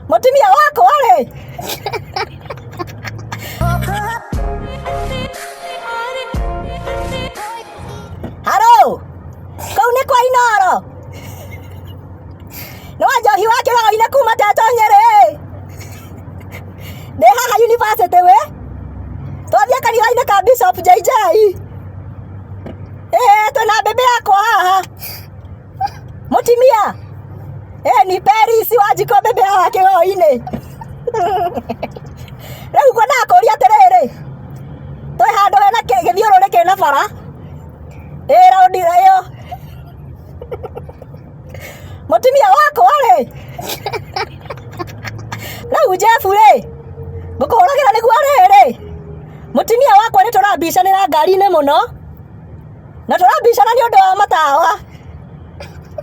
Mũtumia wako rĩ? Haro. Kau nĩ kwa Inoro. Nĩ wa njohi wa kĩgaro-inĩ kuma Teto Nyerĩ. Ndĩ haha university we. Twathiĩ kanitha-inĩ ka Bishop JJ. Eh, twĩna mbembe yakwa haha. Mutimia. Eh, ni peri si waji kwa bebe hawa kiwa ine. Rĩu ngwenda kũria atĩrĩrĩ twĩ handũ hena kĩ- gĩthiũrũrĩ kĩna bara ĩ raundi ĩyo mũtumia wakwa rĩ rĩu jebu rĩ ngũkũhũragĩra nĩguo rĩrĩ mũtumia wakwa nĩ tũrambicanĩra ngari-inĩ mũno na tũrabicana nĩ ũndũ wa matawa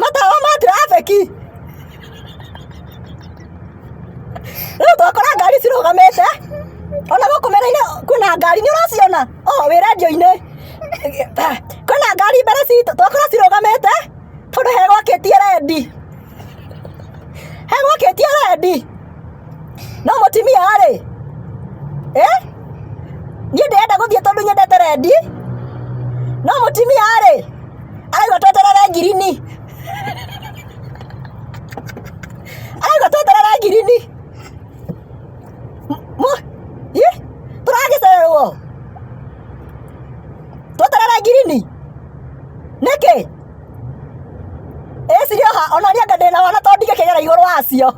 matawa ma trafiki rĩu twakora ngari cirũgamĩte ona gũkũ mĩrainĩ kwĩna ngari nĩ ũraciona o wĩ radio-inĩ kwĩna ngari mbere citũ twakora cirũgamĩte tondũ he gwakĩtie rendi he gwakĩtie rendi no mũtimia rĩ eh? niĩ ndĩrenda gũthiĩ tondũ nyendete rendi no mũtimia rĩ arauga tweterere ngirini arauga tweterere ngirini Mu- ih, tũragĩcererwo tweterere ngirini nĩkĩ Ĩciria ha ona niĩ ndĩ na wana to ndingĩkĩgera igũrũ wacio.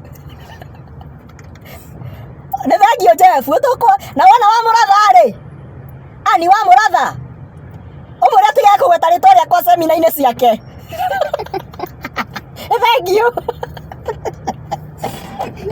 Nĩ thengio Jeff, tũkwa na wana wa mũratha rĩ. Ani wa mũratha. Ũmwĩre atige kũgweta rĩtwa rĩakwa semina-inĩ ciake. Nĩ thengio. Thank you.